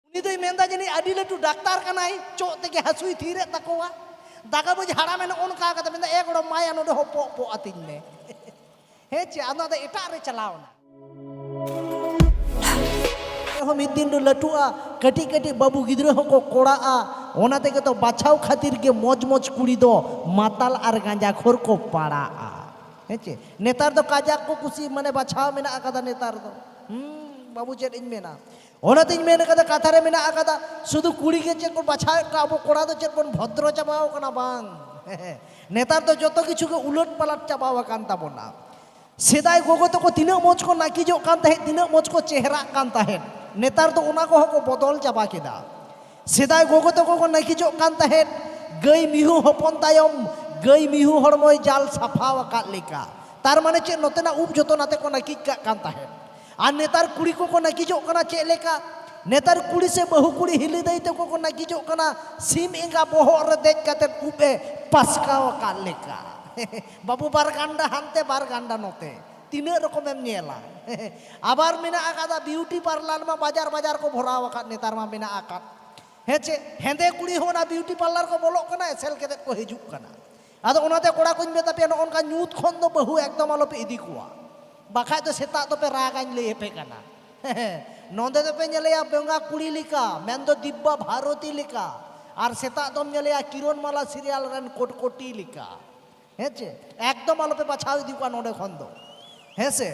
ᱩᱱᱤ ᱫᱚᱭ ᱢᱮᱱᱫᱟ ᱡᱟᱹᱱᱤᱡ ᱟᱹᱰᱤ ᱞᱟᱹᱴᱩ ᱰᱟᱠᱛᱟᱨ ᱠᱟᱱᱟᱭ ᱪᱚᱜ ᱛᱮᱜᱮ ᱦᱟᱹᱥᱩᱭ ᱛᱷᱤᱨᱮᱫ ᱛᱟᱠᱚᱣᱟ ᱫᱟᱠᱟ ᱵᱩᱡᱽ ᱦᱟᱲᱟᱢᱮ ᱱᱚᱜᱼᱚ ᱱᱚᱝᱠᱟ ᱠᱟᱛᱮ ᱢᱮᱱᱫᱟ ᱮ ᱜᱚᱲᱚᱢ ᱢᱟᱭᱟ ᱱᱚᱰᱮ ᱦᱚᱸ ᱯᱚᱜ ᱯᱚᱜ ᱟᱹᱛᱤᱧ ᱢᱮ ᱦᱮᱸ ᱪᱮ ᱟᱫᱚ ᱟᱫᱚ ᱮᱴᱟᱜ ᱨᱮ ᱪᱟᱞᱟᱣ ᱮᱱᱟ ᱦᱚᱸ ᱢᱤᱫ ᱫᱤᱱ ᱫᱚ ᱞᱟᱹᱴᱩᱜᱼᱟ ᱠᱟᱹᱴᱤᱡ ᱠᱟᱹᱴᱤᱡ ᱵᱟᱹᱵᱩ ᱜᱤᱫᱽᱨᱟᱹ ᱦᱚᱸᱠᱚ ᱠᱚᱲᱟᱜᱼᱟ ᱚᱱᱟ ᱛᱮᱜᱮ ᱛᱚ ᱵᱟᱪᱷᱟᱣ ᱠᱷᱟᱹᱛᱤᱨ ᱜᱮ ᱢᱚᱡᱽ ᱢᱚᱡᱽ ᱠᱩᱲᱤ ᱫᱚ ᱢᱟᱛᱟᱞ ᱟᱨ ᱜᱟᱸᱡᱟ ᱠᱷᱚᱨ ᱠᱚ ᱯᱟᱲᱟᱜᱼᱟ ᱦᱮᱸ ᱪᱮ ᱱᱮᱛᱟᱨ ᱫᱚ ᱠᱟᱡᱟᱠ ᱠᱚ ᱠᱩᱥᱤ ᱢᱟᱱᱮ ᱵᱟᱪᱷᱟᱣ ᱢᱮᱱᱟᱜ ᱟᱠᱟᱫᱟ ᱱᱮᱛᱟᱨ ᱫᱚ ᱦᱩᱸ ᱵᱟᱹᱵᱩ ᱪᱮᱫ ᱤᱧ ᱢᱮᱱᱟ ᱚᱱᱟᱛᱤᱧ ᱢᱮᱱ ᱟᱠᱟᱫᱟ ᱠᱟᱛᱷᱟ ᱨᱮ ᱢᱮᱱᱟᱜ ᱟᱠᱟᱫᱟ ᱥᱩᱫᱷᱩ ᱠᱩᱲᱤ ᱜᱮ ᱪᱮᱫ ᱵᱚᱱ ᱵᱟᱪᱷᱟᱣᱮᱫ ᱠᱚᱣᱟ ᱟᱵᱚ ᱠᱚᱲᱟ ᱫᱚ ᱪᱮᱫ ᱵᱚᱱ ᱵᱷᱚᱫᱨᱚ ᱪᱟᱵᱟᱣ ᱠᱟᱱᱟ ᱵᱟᱝ ᱱᱮᱛᱟᱨ ᱫᱚ ᱡᱚᱛᱚ ᱠᱤᱪᱷᱩ ᱜᱮ ᱩᱞᱟᱹᱴ ᱯᱟᱞᱟᱴ ᱪᱟᱵᱟᱣ ᱟᱠᱟᱱ ᱛᱟᱵᱚᱱᱟ ᱥᱮᱫᱟᱭ ᱜᱚᱜᱚ ᱛᱟᱠᱚ ᱛᱤᱱᱟᱹᱜ ᱢᱚᱡᱽ ᱠᱚ ᱱᱟᱹᱠᱤᱡᱚᱜ ᱠᱟᱱ ᱛᱟᱦᱮᱸᱫ ᱛᱤᱱᱟᱹᱜ ᱢᱚᱡᱽ ᱠᱚ ᱪᱮᱦᱨᱟᱜ ᱠᱟᱱ ᱛᱟᱦᱮᱸᱫ ᱱᱮᱛᱟᱨ ᱫᱚ ᱚᱱᱟ ᱠᱚᱦᱚᱸ ᱠᱚ ᱵᱚᱫᱚᱞ ᱪᱟᱵᱟ ᱠᱮᱫᱟ ᱥᱮᱫᱟᱭ ᱜᱚᱜᱚ ᱛᱟᱠᱚ ᱠᱚ ᱱᱟᱹᱠᱤᱡᱚᱜ ᱠᱟᱱ ᱛᱟᱦᱮᱸᱫ ᱜᱟᱹᱭ ᱢᱤᱦᱩ ᱦᱚᱯᱚᱱ ᱛᱟᱭᱚᱢ ᱜᱟᱹᱭ ᱢᱤᱦᱩ ᱦᱚᱲᱢᱚᱭ ᱡᱟᱞ ᱥᱟᱯᱷᱟᱣ ᱟᱠᱟᱫ ᱞᱮᱠᱟ ᱛᱟᱨ ᱢᱟᱱᱮ ᱪᱮᱫ ᱱᱚᱛᱮᱱᱟᱜ ᱩᱵ ᱡᱚᱛᱚ ᱱᱟᱛᱮ ᱠᱚ ᱱᱟᱹᱠᱤᱡ ᱠᱟᱜ ᱠᱟᱱ ᱛᱟᱦᱮᱸᱫ ᱟᱨ ᱱᱮᱛᱟᱨ ᱠᱩᱲᱤ ᱠᱚᱠᱚ ᱱᱟᱹᱠᱤᱡᱚᱜ ᱠᱟᱱᱟ ᱪᱮᱫ ᱞᱮᱠᱟ ᱱᱮᱛᱟᱨ ᱠᱩᱲᱤ ᱥᱮ ᱵᱟᱹᱦᱩ ᱠᱩᱲᱤ ᱦᱤᱞᱤ ᱫᱟᱹᱭ ᱛᱟᱠᱚ ᱠᱚ ᱱᱟᱹᱠᱤᱡᱚᱜ ᱠᱟᱱᱟ ᱥᱤᱢ ᱮᱸᱜᱟ ᱵᱚᱦᱚᱜ ᱨᱮ ᱫᱮᱡ ᱠᱟᱛᱮ ᱩᱵ ᱮ ᱯᱟᱥᱠᱟᱣ ᱟᱠᱟᱫ ᱞᱮᱠᱟ ᱵᱟᱹᱵᱩ ᱵᱟᱨ ᱜᱟᱱᱰᱟ ᱦᱟᱱᱛᱮ ᱵᱟᱨ ᱜᱟᱱᱰᱟ ᱱᱚᱛᱮ ᱛᱤᱱᱟᱹᱜ ᱨᱚᱠᱚᱢᱮᱢ ᱧᱮᱞᱟ ᱟᱵᱟᱨ ᱢᱮᱱᱟᱜ ᱟᱠᱟᱫᱟ ᱵᱤᱭᱩᱴᱤ ᱯᱟᱨᱞᱟᱨ ᱢᱟ ᱵᱟᱡᱟᱨ ᱵᱟᱡᱟᱨ ᱠᱚ ᱵᱷᱚᱨᱟᱣ ᱟᱠᱟᱫ ᱱᱮᱛᱟᱨ ᱢᱟ ᱢᱮᱱᱟᱜ ᱟᱠᱟᱫ ᱦᱮᱸ ᱪᱮ ᱦᱮᱸᱫᱮ ᱠᱩᱲᱤ ᱦᱚᱸ ᱚᱱᱟ ᱵᱤᱭᱩᱴᱤ ᱯᱟᱨᱞᱟᱨ ᱠᱚ ᱵᱚᱞᱚᱜ ᱠᱟᱱᱟ ᱮᱥᱮᱞ ᱠᱟᱛᱮ ᱠᱚ ᱦᱤᱡᱩᱜ ᱠᱟᱱᱟ ᱟᱫᱚ ᱚᱱᱟᱛᱮ ᱠᱚᱲᱟ ᱠᱚᱧ ᱢᱮᱛᱟ ᱯᱮᱭᱟ ᱱᱚᱜᱼᱚ ᱱᱚᱝᱠᱟ ᱧᱩᱛ ᱠᱷᱚᱱ ᱫᱚ ᱵᱟᱹᱦᱩ ᱮᱠᱫᱚᱢ ᱟᱞᱚᱯᱮ ᱤᱫᱤ ᱠᱚᱣᱟ ᱵᱟᱠᱷᱟᱡ ᱫᱚ ᱥᱮᱛᱟᱜ ᱫᱚᱯᱮ ᱨᱟᱜᱟᱧ ᱞᱟᱹᱭ ᱟᱯᱮ ᱠᱟᱱᱟ ᱱᱚᱸᱰᱮ ᱫᱚᱯᱮ ᱧᱮᱞᱮᱭᱟ ᱵᱮᱸᱜᱟ ᱠᱩᱲᱤ ᱞᱮᱠᱟ ᱢᱮᱱᱫᱚ ᱫᱤᱵᱽᱵᱟ ᱵᱷᱟᱨᱚᱛᱤ ᱞᱮᱠᱟ ᱟᱨ ᱥᱮᱛᱟᱜ ᱫᱚᱢ ᱧᱮᱞᱮᱭᱟ ᱠᱤᱨᱚᱱ ᱢᱟᱞᱟ ᱥᱤᱨᱤᱭᱟᱞ ᱨᱮᱱ ᱠᱚᱴᱠᱚᱴᱤ ᱞᱮᱠᱟ ᱦᱮᱸ ᱪᱮ ᱮᱠᱫᱚᱢ ᱟᱞᱚᱯᱮ ᱵᱟᱪᱷᱟᱣ ᱤᱫᱤ ᱠᱚᱣᱟ ᱱᱚᱸᱰᱮ ᱠᱷᱚᱱ ᱫᱚ ᱦᱮᱸ ᱥᱮ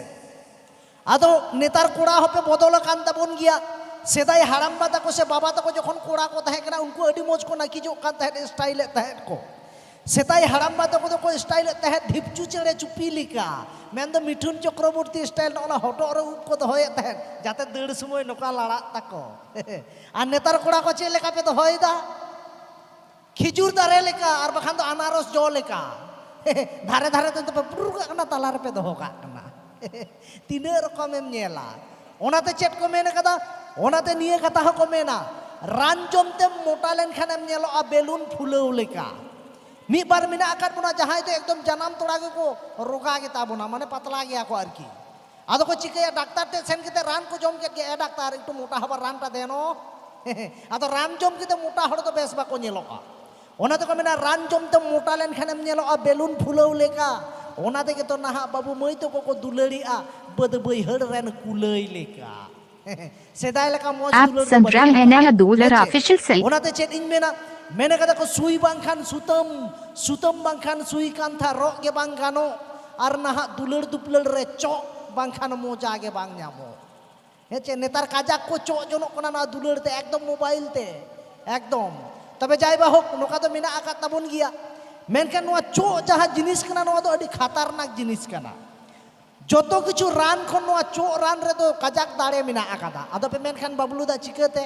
ᱟᱫᱚ ᱱᱮᱛᱟᱨ ᱠᱚᱲᱟ ᱦᱚᱸᱯᱮ ᱵᱚᱫᱚᱞ ᱟᱠᱟᱱ ᱛᱟᱵᱚᱱ ᱜᱮᱭᱟ ᱥᱮᱫᱟᱭ ᱦᱟᱲᱟᱢᱵᱟ ᱛᱟᱠᱚ ᱥᱮ ᱵᱟᱵᱟ ᱛᱟᱠᱚ ᱡᱚᱠᱷᱚᱱ ᱠᱚᱲᱟ ᱠᱚ ᱛᱟᱦᱮᱸ ᱠᱟᱱᱟ ᱩᱱᱠᱩ ᱟᱹᱰᱤ ᱢᱚᱡᱽ ᱠᱚ ᱱᱟᱹᱠᱤᱡᱚᱜ ᱠᱟᱱ ᱛᱟᱦᱮᱸᱫ ᱥᱴᱟᱭᱤᱞᱮᱫ ᱛᱟᱦᱮᱸᱫ ᱠᱚ ᱥᱮᱫᱟᱭ ᱦᱟᱲᱟᱢᱵᱟ ᱛᱟᱠᱚ ᱫᱚᱠᱚ ᱥᱴᱟᱭᱤᱞᱮᱫ ᱛᱟᱦᱮᱸᱫ ᱰᱷᱤᱯᱪᱩ ᱪᱮᱬᱮ ᱪᱩᱯᱤ ᱞᱮᱠᱟ ᱢᱮᱱᱫᱚ ᱢᱤᱴᱷᱩᱱ ᱪᱚᱠᱨᱚᱵᱚᱨᱛᱤ ᱥᱴᱟᱭᱤᱞ ᱱᱚᱜᱼᱚᱱᱟ ᱦᱚᱴᱚᱜ ᱨᱮ ᱩᱵ ᱠᱚ ᱫᱚᱦᱚᱭᱮᱫ ᱛᱟᱦᱮᱸᱫ ᱡᱟᱛᱮ ᱫᱟᱹᱲ ᱥᱚᱢᱚᱭ ᱱᱚᱝᱠᱟ ᱞᱟᱲᱟᱜ ᱛᱟᱠᱚ ᱟᱨ ᱱᱮᱛᱟᱨ ᱠᱚᱲᱟ ᱠᱚ ᱪᱮᱫ ᱞᱮᱠᱟ ᱯᱮ ᱫᱚᱦᱚᱭᱮᱫᱟ ᱠᱷᱤᱡᱩᱨ ᱫᱟᱨᱮ ᱞᱮᱠᱟ ᱟᱨ ᱵᱟᱠᱷᱟᱱ ᱫᱚ ᱟᱱᱟᱨᱚᱥ ᱡᱚ ᱞᱮᱠᱟ ᱫᱷᱟᱨᱮ ᱫᱷᱟᱨᱮ ᱛᱮ ᱯᱮ ᱯᱩᱨᱩᱨ ᱠᱟᱜ ᱠᱟᱱᱟ ᱛᱟᱞᱟ ᱨᱮᱯᱮ ᱫᱚᱦᱚ ᱠᱟᱜ ᱠᱟᱱᱟ ᱛᱤᱱᱟᱹᱜ ᱨᱚᱠᱚᱢᱮᱢ ᱧᱮᱞᱟ ᱚᱱᱟᱛᱮ ᱪᱮᱫ ᱠᱚ ᱢᱮᱱ ᱠᱟᱫᱟ ᱚᱱᱟᱛᱮ ᱱᱤᱭᱟᱹ ᱠᱟᱛᱷᱟ ᱦᱚᱸᱠᱚ ᱢᱮᱱᱟ ᱨᱟᱱ ᱡᱚᱢ ᱛᱮᱢ ᱢᱚᱴᱟ ᱞᱮᱱᱠᱷᱟᱱᱮᱢ ᱧᱮᱞᱚᱜᱼᱟ ᱵᱮᱞᱩᱱ ᱯᱷᱩᱞᱟᱹᱣ ᱞᱮᱠᱟ ᱢᱤᱫ ᱵᱟᱨ ᱢᱮᱱᱟᱜ ᱟᱠᱟᱫ ᱵᱚᱱᱟ ᱡᱟᱦᱟᱸᱭ ᱫᱚ ᱮᱠᱫᱚᱢ ᱡᱟᱱᱟᱢ ᱛᱚᱨᱟ ᱜᱮᱠᱚ ᱨᱳᱜᱟ ᱜᱮᱛᱟ ᱵᱚᱱᱟ ᱢᱟᱱᱮ ᱯᱟᱛᱞᱟ ᱜᱮᱭᱟ ᱠᱚ ᱟᱨᱠᱤ ᱟᱫᱚ ᱠᱚ ᱪᱤᱠᱟᱹᱭᱟ ᱰᱟᱠᱛᱟᱨ ᱴᱷᱮᱱ ᱥᱮᱱ ᱠᱟᱛᱮ ᱨᱟᱱ ᱠᱚ ᱡᱚᱢ ᱠᱮᱫ ᱜᱮ ᱮ ᱰᱟᱠᱛᱟᱨ ᱮᱠᱴᱩ ᱢᱚᱴᱟ ᱦᱚᱵᱟᱨ ᱨᱟᱱᱴᱟ ᱫᱮᱱᱚ ᱟᱫᱚ ᱨᱟᱱ ᱡᱚᱢ ᱠᱟᱛᱮ ᱢᱚᱴᱟ ᱦᱚᱲ ᱫᱚ ᱵᱮᱥ ᱵᱟᱠᱚ ᱧᱮᱞᱚᱜᱼᱟ ᱚᱱᱟ ᱛᱮᱠᱚ ᱢᱮᱱᱟ ᱨᱟᱱ ᱡᱚᱢ ᱛᱮ ᱢᱚᱴᱟ ᱞᱮᱱᱠᱷᱟᱱᱮᱢ ᱧᱮᱞᱚᱜᱼᱟ ᱵᱮᱞᱩᱱ ᱯᱷᱩᱞᱟᱹᱣ ᱞᱮᱠᱟ ᱚᱱᱟ ᱛᱮᱜᱮ ᱛᱚ ᱱᱟᱦᱟᱜ ᱵᱟᱹᱵᱩ ᱢᱟᱹᱭ ᱛᱟᱠᱚ ᱠᱚ ᱫᱩᱞᱟᱹᱲᱤᱜᱼᱟ ᱵᱟᱹᱫᱽ ᱵᱟᱹᱭᱦᱟᱹᱲ ᱨᱮᱱ ᱠᱩᱞᱟᱹᱭ ᱞᱮᱠᱟ ᱥᱮᱫᱟᱭ ᱞᱮᱠᱟ ᱢᱚᱡᱽ ᱫᱩᱞᱟᱹᱲ ᱫᱚ ᱵᱟᱹᱱᱩᱜᱼᱟ ᱥᱟᱢᱨᱟᱝ ᱦᱮᱱᱟᱭᱟ ᱫᱩᱞᱟᱹᱲ ᱚᱯᱷᱤᱥᱤᱭᱟᱞ ᱥᱮ ᱚᱱᱟᱛᱮ ᱪᱮᱫ ᱤᱧ ᱢᱮᱱᱟ ᱢᱮᱱ ᱠᱟᱫᱟ ᱠᱚ ᱥᱩᱭ ᱵᱟᱝᱠᱷᱟᱱ ᱥᱩᱛᱟᱹᱢ ᱥᱩᱛᱟᱹᱢ ᱵᱟᱝᱠᱷᱟᱱ ᱥᱩᱭ ᱠᱟᱱᱛᱷᱟ ᱨᱚᱜ ᱜᱮ ᱵᱟᱝ ᱜᱟᱱᱚᱜ ᱟᱨ ᱱᱟᱦᱟᱜ ᱫᱩᱞᱟᱹᱲ ᱫᱩᱯᱞᱟᱹᱲ ᱨᱮ ᱪᱚᱜ ᱵᱟᱝᱠᱷᱟᱱ ᱢᱚᱡᱟ ᱜᱮ ᱵᱟᱝ ᱧᱟᱢᱚᱜ ᱦᱮᱸ ᱪᱮ ᱱᱮᱛᱟᱨ ᱠᱟᱡᱟᱠ ᱠᱚ ᱪᱚᱜ ᱡᱚᱱᱚᱜ ᱠᱟᱱᱟ ᱱᱚᱣᱟ ᱫᱩᱞᱟᱹᱲ ᱛᱮ ᱮᱠᱫᱚᱢ ᱢᱳᱵᱟᱭᱤᱞ ᱛᱮ ᱮᱠᱫᱚᱢ ᱛᱚᱵᱮ ᱡᱟᱭ ᱵᱟ ᱦᱳᱠ ᱱᱚᱝᱠᱟ ᱫᱚ ᱢᱮᱱᱟᱜ ᱟᱠᱟᱫ ᱛᱟᱵᱚᱱ ᱜᱮᱭᱟ ᱢᱮᱱᱠᱷᱟᱱ ᱱᱚᱣᱟ ᱪᱚᱜ ᱡᱟᱦᱟᱸ ᱡᱤᱱᱤᱥ ᱠᱟᱱᱟ ᱱᱚᱣᱟ ᱫᱚ ᱟᱹᱰᱤ ᱠᱷᱟᱛᱟᱨᱱᱟᱠ ᱡᱤᱱᱤᱥ ᱠᱟᱱᱟ ᱡᱚᱛᱚ ᱠᱤᱪᱷᱩ ᱨᱟᱱ ᱠᱷᱚᱱ ᱱᱚᱣᱟ ᱪᱚᱜ ᱨᱟᱱ ᱨᱮᱫᱚ ᱠᱟᱡᱟᱠ ᱫᱟᱲᱮ ᱢᱮᱱᱟᱜ ᱟᱠᱟᱫᱟ ᱟᱫᱚ ᱯᱮ ᱢᱮᱱᱠᱷᱟᱱ ᱵᱟᱵᱞᱩ ᱫᱟ ᱪᱤᱠᱟᱹᱛᱮ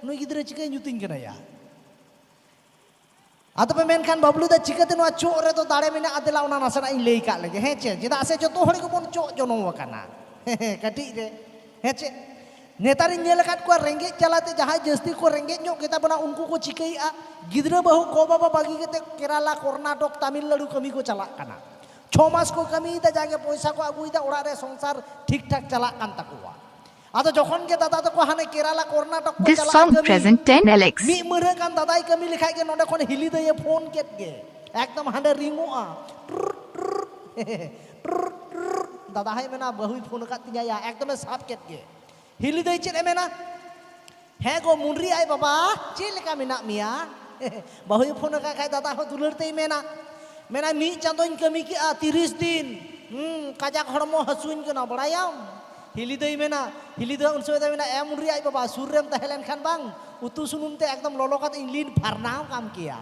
ᱱᱩᱭ ᱜᱤᱫᱽᱨᱟᱹ ᱪᱤᱠᱟᱹᱭ ᱧᱩᱛᱤᱧ ᱠᱟᱱᱟᱭᱟ ᱟᱫᱚ ᱯᱮ ᱢᱮᱱᱠᱷᱟᱱ ᱵᱟᱵᱞᱩ ᱫᱟ ᱪᱤᱠᱟᱹᱛᱮ ᱱᱚᱣᱟ ᱪᱚᱜ ᱨᱮᱫᱚ ᱫᱟᱲᱮ ᱢᱮᱱᱟᱜ ᱟᱫᱮᱞᱟ ᱚᱱᱟ ᱱᱟᱥᱮᱱᱟᱜ ᱤᱧ ᱞᱟᱹᱭ ᱠᱟᱜ ᱞᱮᱜᱮ ᱦᱮᱸ ᱪᱮ ᱪᱮᱫᱟᱜ ᱥᱮ ᱡᱚᱛᱚ ᱦᱚᱲ ᱜᱮᱵᱚᱱ ᱪᱚᱜ ᱡᱚᱱᱚᱢ ᱟᱠᱟᱱᱟ ᱠᱟᱹᱴᱤᱡ ᱨᱮ ᱦᱮᱸ ᱪᱮ ᱱᱮᱛᱟᱨᱤᱧ ᱧᱮᱞ ᱟᱠᱟᱫ ᱠᱚᱣᱟ ᱨᱮᱸᱜᱮᱡ ᱡᱟᱞᱟᱛᱮ ᱡᱟᱦᱟᱸᱭ ᱡᱟᱹᱥᱛᱤ ᱠᱚ ᱨᱮᱸᱜᱮᱡ ᱧᱚᱜ ᱜᱮᱛᱟ ᱵᱚᱱᱟ ᱩᱱᱠᱩ ᱠᱚ ᱪᱤᱠᱟᱹᱭᱮᱫᱼᱟ ᱜᱤᱫᱽᱨᱟᱹ ᱵᱟᱹᱦᱩ ᱜᱚ ᱵᱟᱵᱟ ᱵᱟᱹᱜᱤ ᱠᱟᱛᱮ ᱠᱮᱨᱟᱞᱟ ᱠᱚᱨᱱᱟᱴᱚᱠ ᱛᱟᱢᱤᱞᱱᱟᱲᱩ ᱠᱟᱹᱢᱤ ᱠᱚ ᱪᱟᱞᱟᱜ ᱠᱟᱱᱟ ᱪᱷᱚ ᱢᱟᱥ ᱠᱚ ᱠᱟᱹᱢᱤᱭᱮᱫᱟ ᱡᱟᱜᱮ ᱯᱚᱭᱥᱟ ᱠᱚ ᱟᱹᱜᱩᱭᱮᱫᱟ ᱚᱲᱟᱜ ᱨᱮ ᱥᱚᱝᱥᱟᱨ ᱴᱷᱤᱠ ᱴᱷᱟᱠ ᱪᱟᱞᱟᱜ ᱠᱟᱱ ᱛᱟᱠᱚᱣᱟ ᱟᱫᱚ ᱡᱚᱠᱷᱚᱱ ᱜᱮ ᱫᱟᱫᱟ ᱛᱟᱠᱚ ᱦᱟᱱᱮ ᱠᱮᱨᱟᱞᱟ ᱠᱚᱨᱱᱟᱴᱚᱠ ᱠᱚ ᱪᱟᱞᱟᱜ ᱠᱟᱹᱢᱤ ᱢᱤᱫ ᱯᱨᱮᱡᱮᱱᱴ ᱴᱮᱱ ᱮᱞᱮᱠᱥ ᱢᱤᱫ ᱢᱟᱹᱨᱦᱟᱹ ᱠᱟᱱ ᱫᱟᱫᱟᱭ ᱠᱟᱹᱢᱤ ᱞᱮᱠᱷᱟᱡ ᱜᱮ ᱱᱚᱰᱮ ᱠᱷᱚᱱ ᱦᱤᱞᱤ ᱫᱟᱹᱭᱮ ᱯᱷᱳᱱ ᱠᱮᱫ ᱜᱮ ᱮᱠᱫᱚᱢ ᱦᱟᱸᱰᱮ ᱨᱤᱝᱚᱜᱼᱟ ᱫᱟᱫᱟ ᱦᱚᱸᱭ ᱢᱮᱱᱟ ᱵᱟᱹᱦᱩᱭ ᱯᱷᱳᱱ ᱟᱠᱟᱫ ᱛᱤᱧᱟᱹᱭᱟ ᱮᱠᱫᱚᱢᱮ ᱥᱟᱵ ᱠᱮᱫ ᱜᱮ ᱦᱤᱞᱤ ᱫᱟᱹᱭ ᱪᱮᱫ ᱮ ᱢᱮᱱᱟ ᱦᱮᱸ ᱜᱚ ᱢᱩᱱᱨᱤ ᱟᱡ ᱵᱟᱵᱟ ᱪᱮᱫ ᱞᱮᱠᱟ ᱢᱮᱱᱟᱜ ᱢᱮᱭᱟ ᱵᱟᱹᱦᱩᱭ ᱯᱷᱳᱱ ᱟᱠᱟᱫ ᱠᱷᱟᱡ ᱫᱟᱫᱟ ᱦᱚᱸ ᱫᱩᱞᱟᱹᱲ ᱛᱮᱭ ᱢᱮᱱᱟ ᱢᱮᱱᱟᱭ ᱢᱤᱫ ᱪᱟᱸᱫᱳᱧ ᱠᱟᱹᱢᱤ ᱠᱮᱜᱼᱟ ᱛᱤᱨᱤᱥ ᱫᱤᱱ ᱦᱩᱸ ᱠᱟᱡᱟᱠ ᱦᱚᱲᱢᱚ ᱦᱟᱹᱥᱩᱧ ᱠᱟᱱᱟ ᱵᱟᱲᱟᱭᱟᱢ ᱦᱤᱞᱤ ᱫᱟᱹᱭ ᱢᱮᱱᱟ ᱦᱤᱞᱤ ᱫᱟᱹᱭ ᱩᱱ ᱥᱚᱢᱚᱭ ᱫᱚᱭ ᱢᱮᱱᱟ ᱮᱢ ᱩᱱᱨᱤ ᱟᱡ ᱵᱟᱵᱟ ᱥᱩᱨ ᱨᱮᱢ ᱛᱟᱦᱮᱸ ᱞᱮᱱᱠᱷᱟᱱ ᱵᱟᱝ ᱩᱛᱩ ᱥᱩᱱᱩᱢ ᱛᱮ ᱮᱠᱫᱚᱢ ᱞᱚᱞᱚ ᱠᱟᱛᱮ ᱤᱧ ᱞᱤᱱ ᱯᱷᱟᱨᱱᱟᱣ ᱠᱟᱢ ᱠᱮᱭᱟ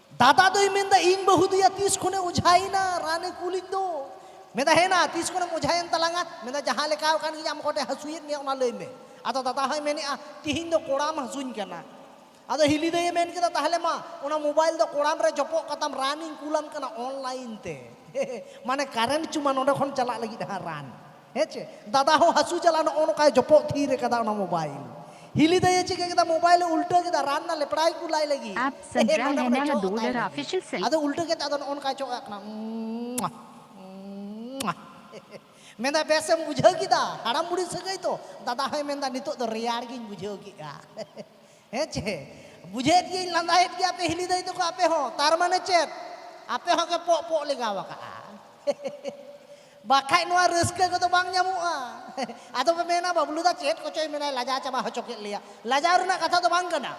ᱫᱟᱫᱟ ᱫᱚᱭ ᱢᱮᱱᱫᱟ ᱤᱧ ᱵᱟᱹᱦᱩ ᱫᱚᱭᱟ ᱛᱤᱥ ᱠᱷᱚᱱᱮ ᱚᱡᱷᱟᱭᱮᱱᱟ ᱨᱟᱱᱮ ᱠᱩᱞᱤᱧ ᱫᱚ ᱢᱮᱱᱫᱟ ᱦᱮᱱᱟ ᱛᱤᱥ ᱠᱷᱚᱱᱮᱢ ᱚᱡᱷᱟᱭᱮᱱ ᱛᱟᱞᱟᱝᱟ ᱢᱮᱱᱫᱟ ᱡᱟᱦᱟᱸ ᱞᱮᱠᱟ ᱠᱟᱱ ᱜᱤᱧ ᱟᱢ ᱠᱚᱴᱮ ᱦᱟᱹᱥᱩᱭᱮᱫ ᱢᱮᱭᱟ ᱚᱱᱟ ᱞᱟᱹᱭ ᱢᱮ ᱟᱫᱚ ᱫᱟᱫᱟ ᱦᱚᱸᱭ ᱢᱮᱱᱮᱜᱼᱟ ᱛᱤᱦᱤᱧ ᱫᱚ ᱠᱚᱲᱟᱢ ᱦᱟᱹᱥᱩᱧ ᱠᱟᱱᱟ ᱟᱫᱚ ᱦᱤᱞᱤ ᱫᱟᱹᱭᱮ ᱢᱮᱱ ᱠᱮᱫᱟ ᱛᱟᱦᱞᱮ ᱢᱟ ᱚᱱᱟ ᱢᱳᱵᱟᱭᱤᱞ ᱫᱚ ᱠᱚᱲᱟᱢ ᱨᱮ ᱡᱚᱯᱚᱜ ᱠᱟᱛᱟᱢ ᱨᱟᱱᱤᱧ ᱠᱩᱞᱟᱢ ᱠᱟᱱᱟ ᱚᱱᱞᱟᱭᱤᱱ ᱛᱮ ᱢᱟᱱᱮ ᱠᱟᱨᱮᱱᱴ ᱪᱩᱢᱟ ᱱᱚᱰᱮ ᱠᱷᱚᱱ ᱪᱟᱞᱟᱜ ᱞᱟᱹᱜᱤᱫ ᱦᱟᱸᱜ ᱨᱟᱱ ᱦᱮᱸ ᱪᱮ ᱫᱟᱫᱟ ᱦᱚᱸ ᱦᱟᱹᱥᱩ ᱪᱟᱞᱟᱜ ᱱᱚᱜᱼᱚ ᱱᱚᱝᱠᱟᱭ ᱡᱚᱯᱚᱜ ᱛᱷᱤᱨ ᱟᱠᱟᱫᱟ ᱚᱱᱟ ᱢᱳᱵᱟᱭᱤᱞ ᱦᱤᱞᱤ ᱫᱟᱭᱮ ᱪᱤᱠᱟᱹ ᱠᱮᱫᱟ ᱢᱳᱵᱟᱭᱤᱞ ᱮ ᱩᱞᱴᱟᱹ ᱠᱮᱫᱟ ᱨᱟᱱ ᱨᱮᱱᱟᱜ ᱞᱮᱯᱲᱟᱭ ᱠᱚ ᱞᱟᱭ ᱞᱟᱹᱜᱤᱫ ᱟᱯ ᱥᱟᱱᱡᱨᱟ ᱢᱮᱱᱟ ᱦᱟ ᱫᱩᱞᱟᱨ ᱚᱯᱷᱤᱥᱤᱭᱟᱞ ᱥᱮᱞ ᱟᱫᱚ ᱩᱞᱴᱟᱹ ᱠᱮᱫ ᱟᱫᱚ ᱱᱚᱜᱼᱚ ᱱᱚᱝᱠᱟᱭ ᱪᱚᱜ ᱠᱟᱱᱟ ᱢᱮᱱᱫᱟ ᱵᱮᱥ ᱮᱢ ᱵᱩᱡᱷᱟᱹᱣ ᱠᱮᱫᱟ ᱦᱟᱲᱟᱢ ᱵᱩᱲᱦᱤ ᱥᱟᱹᱜᱟᱹᱭ ᱛᱚ ᱫᱟᱫᱟ ᱦᱚᱸᱭ ᱢᱮᱱᱫᱟ ᱱᱤᱛᱚᱜ ᱫᱚ ᱨᱮᱭᱟᱲ ᱜᱤᱧ ᱵᱩᱡᱷᱟᱹᱣ ᱠᱮᱫᱼᱟ ᱦᱮᱸ ᱪᱮ ᱵᱩᱡᱷᱟᱹᱣᱮᱫ ᱜᱤᱭᱟᱹᱧ ᱞᱟᱸᱫᱟᱭᱮᱫ ᱜᱮᱭᱟ ᱯᱮ ᱦᱤᱞᱤ ᱫᱟᱹᱭ ᱛᱟᱠᱚ ᱟᱯᱮ ᱦᱚᱸ ᱛᱟᱨ ᱢᱟᱱᱮ ᱪᱮᱫ ᱟᱯᱮ ᱦᱚᱸ ᱜᱮ ᱯᱚᱜ ᱯᱚᱜ ᱞᱮᱜᱟᱣ ᱟᱠᱟᱜᱼᱟ ᱵᱟᱠᱷᱟᱡ ᱱᱚᱣᱟ ᱨᱟᱹᱥᱠᱟᱹ ᱠᱚᱫᱚ ᱵᱟᱝ ᱧᱟᱢᱚᱜᱼᱟ ᱟᱫᱚ ᱯᱮ ᱢᱮᱱᱟ ᱵᱟᱵᱞᱩ ᱫᱟ ᱪᱮᱫ ᱠᱚᱪᱚᱭ ᱢᱮᱱᱟᱭ ᱞᱟᱡᱟ ᱪᱟᱵᱟ ᱦᱚᱪᱚ ᱠᱮᱫ ᱞᱮᱭᱟ ᱞᱟᱡᱟᱣ ᱨᱮᱱᱟᱜ ᱠᱟᱛᱷᱟ ᱫᱚ ᱵᱟᱝ ᱠᱟᱱᱟ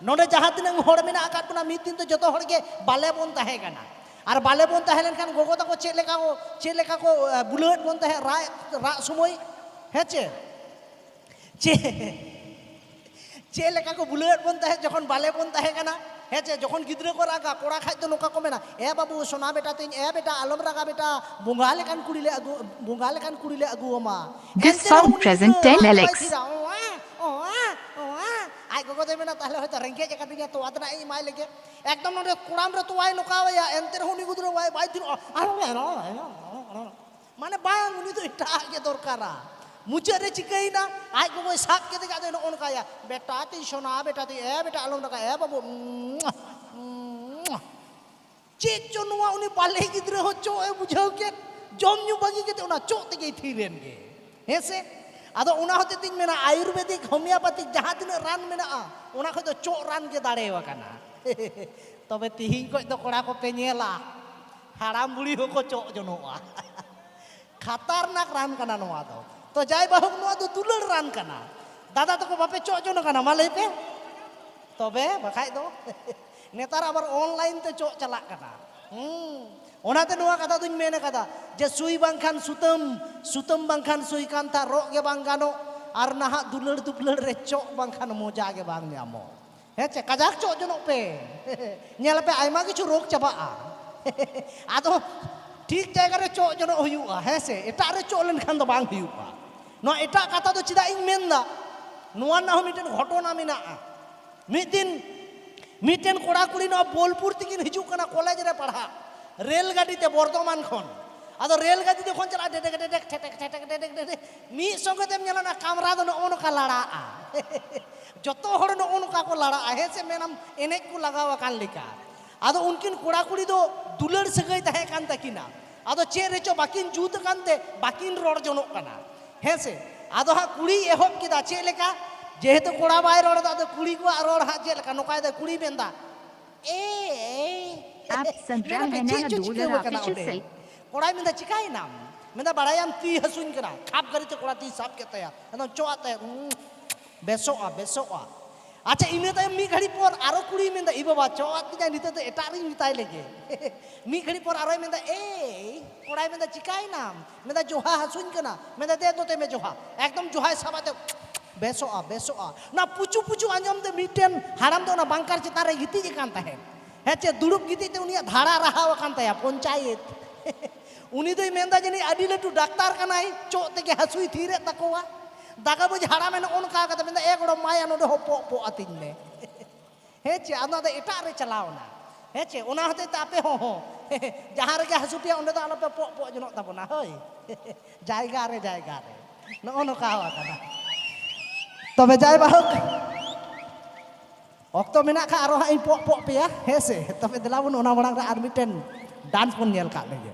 ᱱᱚᱰᱮ ᱡᱟᱦᱟᱸ ᱛᱤᱱᱟᱹᱜ ᱦᱚᱲ ᱢᱮᱱᱟᱜ ᱟᱠᱟᱫ ᱵᱚᱱᱟ ᱢᱤᱫ ᱫᱤᱱ ᱫᱚ ᱡᱚᱛᱚ ᱦᱚᱲ ᱜᱮ ᱵᱟᱞᱮ ᱵᱚᱱ ᱛᱟᱦᱮᱸ ᱠᱟᱱᱟ ᱟᱨ ᱵᱟᱞᱮ ᱵᱚᱱ ᱛᱟᱦᱮᱸ ᱞᱮᱱᱠᱷᱟᱱ ᱜᱚᱜᱚ ᱛᱟᱠᱚ ᱪᱮᱫ ᱞᱮᱠᱟ ᱠᱚ ᱪᱮᱫ ᱞᱮᱠᱟ ᱠᱚ ᱵᱩᱞᱟᱹᱣᱮᱫ ᱵᱚᱱ ᱛᱟᱦᱮᱸᱫ ᱨᱟᱜ ᱨᱟᱜ ᱥᱚᱢᱚᱭ ᱦᱮᱸ ᱪᱮ ᱪᱮᱫ ᱪᱮᱫ ᱞᱮᱠᱟ ᱠᱚ ᱵᱩᱞᱟᱹᱣᱮᱫ ᱵᱚᱱ ᱛᱟᱦᱮᱸᱫ ᱡᱚᱠᱷᱚᱱ ᱵᱟᱞᱮ ᱵᱚᱱ ᱛᱟᱦᱮᱸ ᱠᱟᱱᱟ ᱦᱮᱸ ᱪᱮ ᱡᱚᱠᱷᱚᱱ ᱜᱤᱫᱽᱨᱟᱹ ᱠᱚ ᱨᱟᱜᱟ ᱠᱚᱲᱟ ᱠᱷᱟᱡ ᱫᱚ ᱱᱚᱝᱠᱟ ᱠᱚ ᱢᱮᱱᱟ ᱮ ᱵᱟᱹᱵᱩ ᱥᱚᱱᱟ ᱵᱮᱴᱟ ᱛᱤᱧ ᱮ ᱵᱮᱴᱟ ᱟᱞᱚᱢ ᱨᱟᱜᱟ ᱵᱮᱴᱟ ᱵᱚᱸᱜᱟ ᱞᱮᱠᱟᱱ ᱠᱩᱲᱤ ᱞᱮ ᱟᱹᱜᱩ ᱵᱚᱸᱜᱟ ᱞᱮᱠᱟᱱ ᱠᱩᱲᱤ ᱞᱮ ᱟᱹᱜᱩ ᱟᱢᱟ This song present 10 Alex ᱟᱡ ᱜᱚᱜᱚ ᱫᱚᱭ ᱢᱮᱱᱟ ᱛᱟᱦᱞᱮ ᱦᱚᱭᱛᱚ ᱨᱮᱸᱜᱮᱡ ᱟᱠᱟᱫᱤᱧᱟ ᱛᱚᱣᱟ ᱛᱮᱱᱟᱜ ᱤᱧ ᱮᱢᱟᱭ ᱞᱮᱜᱮ ᱮᱠᱫᱚᱢ ᱱᱚᱰᱮ ᱠᱚᱲᱟᱢ ᱨᱮ ᱛᱚᱣᱟᱭ ᱱᱚᱠᱟᱣᱟᱭᱟ ᱮᱱᱛᱮ ᱨᱮᱦᱚᱸ ᱩᱱᱤ ᱜᱤᱫᱽᱨᱟᱹ ᱵᱟᱭ ᱵᱟᱭ ᱛᱷᱤᱨᱚᱜᱼᱟ ᱢᱟᱱᱮ ᱵᱟᱝ ᱩᱱᱤ ᱫᱚ ᱮᱴᱟᱜ ᱜᱮ ᱫᱚᱨᱠᱟᱨᱟ ᱢᱩᱪᱟᱹᱫ ᱨᱮ ᱪᱤᱠᱟᱹᱭᱮᱱᱟ ᱟᱡ ᱜᱚᱜᱚᱭ ᱥᱟᱵ ᱠᱮᱫᱮ ᱠᱷᱟᱡ ᱫᱚᱭ ᱱᱚᱜᱼᱚ ᱱᱚᱝᱠᱟᱭᱟ ᱵᱮᱴᱟ ᱛᱤᱧ ᱥᱚᱱᱟ ᱵᱮᱴᱟ ᱛᱤᱧ ᱮ ᱵᱮᱴᱟ ᱟᱞᱚᱢ ᱨᱟᱜᱟ ᱮ ᱵᱟᱹᱵᱩ ᱪᱮᱫ ᱪᱚ ᱱᱚᱣᱟ ᱩᱱᱤ ᱵᱟᱞᱮ ᱜᱤᱫᱽᱨᱟᱹ ᱦᱚᱸ ᱪᱚᱜ ᱮ ᱵᱩᱡᱷᱟᱹᱣ ᱠᱮᱫ ᱡᱚᱢ ᱧᱩ ᱵᱟᱹᱜᱤ ᱠᱟᱛᱮ ᱚᱱᱟ ᱪᱚᱜ ᱛᱮᱜᱮᱭ ᱛᱷᱤᱨᱮᱱ ᱜᱮ ᱦᱮᱸ ᱥᱮ ᱟᱫᱚ ᱚᱱᱟ ᱦᱚᱛᱮ ᱛᱤᱧ ᱢᱮᱱᱟ ᱟᱭᱩᱨᱵᱮᱫᱤᱠ ᱦᱳᱢᱤᱭᱳᱯᱟᱛᱤᱠ ᱡᱟᱦᱟᱸ ᱛᱤᱱᱟᱹᱜ ᱨᱟᱱ ᱢᱮᱱᱟᱜᱼᱟ ᱚᱱᱟ ᱠᱷᱚᱡ ᱫᱚ ᱪᱚᱜ ᱨᱟᱱ ᱜᱮ ᱫᱟᱲᱮᱣᱟᱠᱟᱱᱟ ᱛᱚᱵᱮ ᱛᱤᱦᱤᱧ ᱠᱷᱚᱡ ᱫᱚ ᱠᱚᱲᱟ ᱠᱚᱯᱮ ᱧᱮᱞᱟ ᱦᱟᱲᱟᱢ ᱵᱩᱲᱦᱤ ᱦᱚᱸᱠᱚ ᱪᱚᱜ ᱡᱚᱱᱚᱜᱼᱟ ᱠᱷᱟᱛᱟᱨᱱᱟᱠ ᱨᱟᱱ ᱠᱟᱱᱟ ᱱᱚᱣᱟ ᱫᱚ ᱛᱚ ᱡᱟᱭ ᱵᱟᱦᱩᱠ ᱱᱚᱣᱟ ᱫᱚ ᱫᱩᱞᱟᱹᱲ ᱨᱟᱱ ᱠᱟᱱᱟ ᱫᱟᱫᱟ ᱛᱟᱠᱚ ᱵᱟᱯᱮ ᱪᱚᱜ ᱡᱚᱱᱚᱜ ᱠᱟᱱᱟ ᱢᱟ ᱞᱟᱹᱭ ᱯᱮ ᱛᱚᱵᱮ ᱵᱟᱠᱷᱟᱡ ᱫᱚ ᱱᱮᱛᱟᱨ ᱟᱵᱟᱨ ᱚᱱᱞᱟᱭᱤᱱ ᱛᱮ ᱪᱚᱜ ᱪᱟᱞᱟᱜ ᱠᱟᱱᱟ ᱚᱱᱟᱛᱮ ᱱᱚᱣᱟ ᱠᱟᱛᱷᱟ ᱫᱩᱧ ᱢᱮᱱ ᱟᱠᱟᱫᱟ ᱡᱮ ᱥᱩᱭ ᱵᱟᱝᱠᱷᱟᱱ ᱥᱩᱛᱟᱹᱢ ᱥᱩᱛᱟᱹᱢ ᱵᱟᱝᱠᱷᱟᱱ ᱥᱩᱭ ᱠᱟᱱᱛᱷᱟ ᱨᱚᱜ ᱜᱮ ᱵᱟᱝ ᱜᱟᱱᱚᱜ ᱟᱨ ᱱᱟᱦᱟᱜ ᱫᱩᱞᱟᱹᱲ ᱫᱩᱯᱞᱟᱹᱲ ᱨᱮ ᱪᱚᱜ ᱵᱟᱝᱠᱷᱟᱱ ᱢᱚᱡᱟ ᱜᱮ ᱵᱟᱝ ᱧᱟᱢᱚᱜ ᱦᱮᱸ ᱪᱮ ᱠᱟᱡᱟᱠ ᱪᱚᱜ ᱡᱚᱱᱚᱜ ᱯᱮ ᱧᱮᱞ ᱯᱮ ᱟᱭᱢᱟ ᱠᱤᱪᱷᱩ ᱨᱳᱜᱽ ᱪᱟᱵᱟᱜᱼᱟ ᱟᱫᱚ ᱴᱷᱤᱠ ᱡᱟᱭᱜᱟ ᱨᱮ ᱪᱚᱜ ᱡᱚᱱᱚᱜ ᱦᱩᱭᱩᱜᱼᱟ ᱦᱮᱸ ᱥᱮ ᱮᱴᱟᱜ ᱨᱮ ᱪᱚᱜ ᱞᱮᱱᱠᱷᱟᱱ ᱫᱚ ᱵᱟᱝ ᱦᱩᱭᱩᱜᱼᱟ ᱱᱚᱣᱟ ᱮᱴᱟᱜ ᱠᱟᱛᱷᱟ ᱫᱚ ᱪᱮᱫᱟᱜ ᱤᱧ ᱢᱮᱱᱫᱟ ᱱᱚᱣᱟ ᱨᱮᱱᱟᱜ ᱦᱚᱸ ᱢᱤᱫᱴᱮᱱ ᱜᱷᱚᱴᱚᱱᱟ ᱢᱮᱱᱟᱜᱼᱟ ᱢᱤᱫ ᱫᱤᱱ ᱢᱤᱫᱴᱮᱱ ᱠᱚᱲᱟ ᱠᱩᱲᱤ ᱱᱚᱣᱟ ᱵᱳᱞᱯᱩᱨ ᱛᱮᱠᱤᱱ ᱦᱤᱡᱩᱜ ᱠᱟᱱᱟ ᱠᱚᱞᱮᱡᱽ ᱨᱮ ᱯᱟᱲᱦᱟᱜ ᱨᱮᱞ ᱜᱟᱹᱰᱤ ᱛᱮ ᱵᱚᱨᱫᱷᱚᱢᱟᱱ ᱠᱷᱚᱱ ᱟᱫᱚ ᱨᱮᱞ ᱜᱟᱹᱰᱤ ᱡᱚᱠᱷᱚᱱ ᱪᱟᱞᱟᱜᱼᱟ ᱰᱮᱰᱮᱠ ᱰᱮᱰᱮᱠ ᱴᱷᱮᱴᱮᱠ ᱴᱷᱮᱴᱮᱠ ᱰᱮᱰᱮᱠ ᱰᱮᱰᱮᱠ ᱢᱤᱫ ᱥᱚᱸᱜᱮ ᱛᱮᱢ ᱧᱮᱞᱟ ᱚᱱᱟ ᱠᱟᱢᱨᱟ ᱫᱚ ᱱᱚᱜᱼᱚ ᱱᱚᱝᱠᱟ ᱞᱟᱲᱟᱜᱼᱟ ᱡᱚᱛᱚ ᱦᱚᱲ ᱱᱚᱜᱼᱚ ᱱᱚᱝᱠᱟ ᱠᱚ ᱞᱟᱲᱟᱜᱼᱟ ᱦᱮᱸ ᱥᱮ ᱢᱮᱱᱟᱢ ᱮᱱᱮᱡ ᱠᱚ ᱞᱟᱜᱟᱣ ᱟᱠᱟᱱ ᱞᱮᱠᱟ ᱟᱫᱚ ᱩᱱᱠᱤᱱ ᱠᱚᱲᱟ ᱠᱩᱲᱤ ᱫᱚ ᱫᱩᱞᱟᱹᱲ ᱥᱟᱹᱜᱟᱹᱭ ᱛᱟᱦᱮᱸ ᱠᱟᱱ ᱛᱟᱹᱠᱤᱱᱟ ᱟᱫᱚ ᱪᱮᱫ ᱨᱮᱪᱚ ᱵᱟᱹᱠᱤᱱ ᱡᱩᱛ ᱟᱠᱟᱱ ᱛᱮ ᱵᱟᱹᱠᱤᱱ ᱨᱚᱲ ᱡᱚᱱᱚᱜ ᱠᱟᱱᱟ ᱦᱮᱸ ᱥᱮ ᱟᱫᱚ ᱦᱟᱸᱜ ᱠᱩᱲᱤ ᱮᱦᱚᱵ ᱠᱮᱫᱟ ᱪᱮᱫ ᱞᱮᱠᱟ ᱡᱮᱦᱮᱛᱩ ᱠᱚᱲᱟ ᱵᱟᱭ ᱨᱚᱲ ᱮᱫᱟ ᱟᱫᱚ ᱠᱩᱲᱤ ᱠᱚᱣᱟᱜ ᱨᱚᱲ ᱦᱟᱸᱜ ᱪᱮᱫ ᱞᱮᱠᱟ ᱱᱚᱝᱠᱟᱭ ᱫᱟᱭ ᱠᱩᱲᱤ ᱢᱮᱱᱫᱟ ᱮ ᱮ ᱟᱯ ᱥᱟᱱᱛᱟᱲ ᱦᱮᱱᱟᱱᱟ ᱫᱩᱞᱟᱹᱲ ᱚᱯᱷᱤᱥᱤᱭᱟᱞ ᱥᱮᱞ ᱠᱚᱲᱟᱭ ᱢᱮᱱᱫᱟ ᱪᱤᱠᱟᱭᱮᱱᱟᱢ ᱢᱮᱱᱫᱟ ᱵᱟᱲᱟᱭᱟᱢ ᱛᱤ ᱦᱟᱹᱥᱩᱧ ᱠᱟᱱᱟ ᱠᱷᱟᱯ ᱜᱟᱹᱨᱤᱛᱮ ᱠᱚᱲᱟ ᱛᱤ ᱥᱟᱵ ᱠᱮᱫ ᱛᱟᱭᱟ ᱮᱱᱫᱚ ᱪᱚᱜᱼᱟᱜ ᱛᱟᱭᱟ ᱵᱮᱥᱚᱜᱼᱟ ᱵᱮᱥᱚᱜᱼᱟ ᱟᱪᱪᱷᱟ ᱤᱱᱟᱹ ᱛᱟᱭᱚᱢ ᱢᱤᱫ ᱜᱷᱟᱹᱲᱤᱡ ᱯᱚᱨ ᱟᱨᱚ ᱠᱩᱲᱤᱭ ᱢᱮᱱᱫᱟ ᱤ ᱵᱟᱵᱟ ᱪᱚᱜᱼᱟᱜ ᱛᱤᱧᱟᱭ ᱱᱤᱛᱚᱜ ᱫᱚ ᱮᱴᱟᱜ ᱨᱤᱧ ᱢᱮᱛᱟᱭ ᱞᱮᱜᱮ ᱢᱤᱫ ᱜᱷᱟᱹᱲᱤᱡ ᱯᱚᱨ ᱟᱨᱚᱭ ᱢᱮᱱᱫᱟ ᱮᱭ ᱠᱚᱲᱟᱭ ᱢᱮᱱᱫᱟ ᱪᱤᱠᱟᱭᱮᱱᱟᱢ ᱢᱮᱱᱫᱟ ᱡᱚᱦᱟ ᱦᱟᱹᱥᱩᱧ ᱠᱟᱱᱟ ᱢᱮᱱᱫᱟ ᱫᱮ ᱱᱚᱛᱮ ᱢᱮ ᱡᱚᱦᱟ ᱮᱠᱫᱚᱢ ᱡᱚᱦᱟᱭ ᱥᱟᱵ ᱟᱛᱮ ᱵᱮᱥᱚᱜᱼᱟ ᱵᱮᱥᱚᱜᱼᱟ ᱚᱱᱟ ᱯᱩᱪᱩ ᱯᱩᱪᱩ ᱟᱸᱡᱚᱢ ᱛᱮ ᱢᱤᱫᱴᱮᱱ ᱦᱟᱲᱟᱢ ᱫᱚ ᱚᱱᱟ ᱵᱟᱝᱠᱟᱨ ᱪᱮᱛᱟᱱ ᱨᱮ ᱜᱤᱛᱤᱡ ᱟᱠᱟᱱ ᱛᱟᱦᱮᱸᱫ ᱦᱮᱸ ᱪᱮᱫ ᱫᱩᱲᱩᱵ ᱜᱤᱛᱤᱡ ᱛᱮ ᱩᱱᱤᱭᱟᱜ ᱫᱷᱟᱲᱟ ᱨᱟᱦᱟᱣ ᱟᱠᱟᱱ ᱛᱟᱭᱟ ᱯᱚᱧᱪᱟᱭᱮᱛ ᱩᱱᱤ ᱫᱚᱭ ᱢᱮᱱᱫᱟ ᱡᱟᱹᱱᱤᱡ ᱟᱹᱰᱤ ᱞᱟᱹᱴᱩ ᱰᱟᱠᱛᱟᱨ ᱠᱟᱱᱟᱭ ᱪᱚᱜ ᱛᱮᱜᱮ ᱦᱟᱹᱥᱩᱭ ᱛᱷᱤᱨᱮᱫ ᱛᱟᱠᱚᱣᱟ ᱫᱟᱠᱟ ᱵᱩᱡᱽ ᱦᱟᱲᱟᱢᱮ ᱱᱚᱜᱼᱚ ᱱᱚᱝᱠᱟ ᱠᱟᱛᱮ ᱢᱮᱱᱫᱟ ᱮ ᱜᱚᱲᱚᱢ ᱢᱟᱭᱟ ᱱᱚᱰᱮ ᱦᱚᱸ ᱯᱚᱜ ᱯᱚᱜ ᱟᱹᱛᱤᱧ ᱢᱮ ᱦᱮᱸ ᱪᱮ ᱟᱫᱚ ᱟᱫᱚ ᱮᱴᱟᱜ ᱨᱮ ᱪᱟᱞᱟᱣᱱᱟ ᱦᱮᱸ ᱪᱮ ᱚᱱᱟ ᱦᱚᱛᱮᱡ ᱛᱮ ᱟᱯᱮ ᱦᱚᱸ ᱦᱚᱸ ᱡᱟᱦᱟᱸ ᱨᱮᱜᱮ ᱦᱟᱹᱥᱩ ᱯᱮᱭᱟ ᱚᱸᱰᱮ ᱫᱚ ᱟᱞᱚᱯᱮ ᱯᱚᱜ ᱯᱚᱜ ᱡᱚᱱᱚᱜ ᱛᱟᱵᱚᱱᱟ ᱦᱳᱭ ᱡᱟᱭᱜᱟ ᱨᱮ ᱡᱟᱭᱜᱟ ᱨᱮ ᱱᱚᱜᱼᱚ ᱱᱚᱝᱠᱟ ᱟᱠᱟᱱᱟ ᱛᱚᱵᱮ ᱡᱟᱭ ᱵᱟᱦᱳᱠ ᱚᱠᱛᱚ ᱢᱮᱱᱟᱜ ᱠᱷᱟᱱ ᱟᱨᱚ ᱦᱟᱸᱜ ᱤᱧ ᱯᱚᱜ ᱯᱚᱜ ᱯᱮᱭᱟ ᱦᱮᱸ ᱥᱮ ᱛᱚᱵᱮ ᱫᱮᱞᱟ ᱵᱚᱱ ᱚᱱᱟ ᱢᱟᱲᱟᱝ ᱨᱮ ᱟᱨ ᱢᱤᱫᱴᱮᱱ ᱰᱟᱱᱥ ᱵᱚᱱ ᱧᱮᱞ ᱠᱟᱜ ᱞᱮᱜᱮ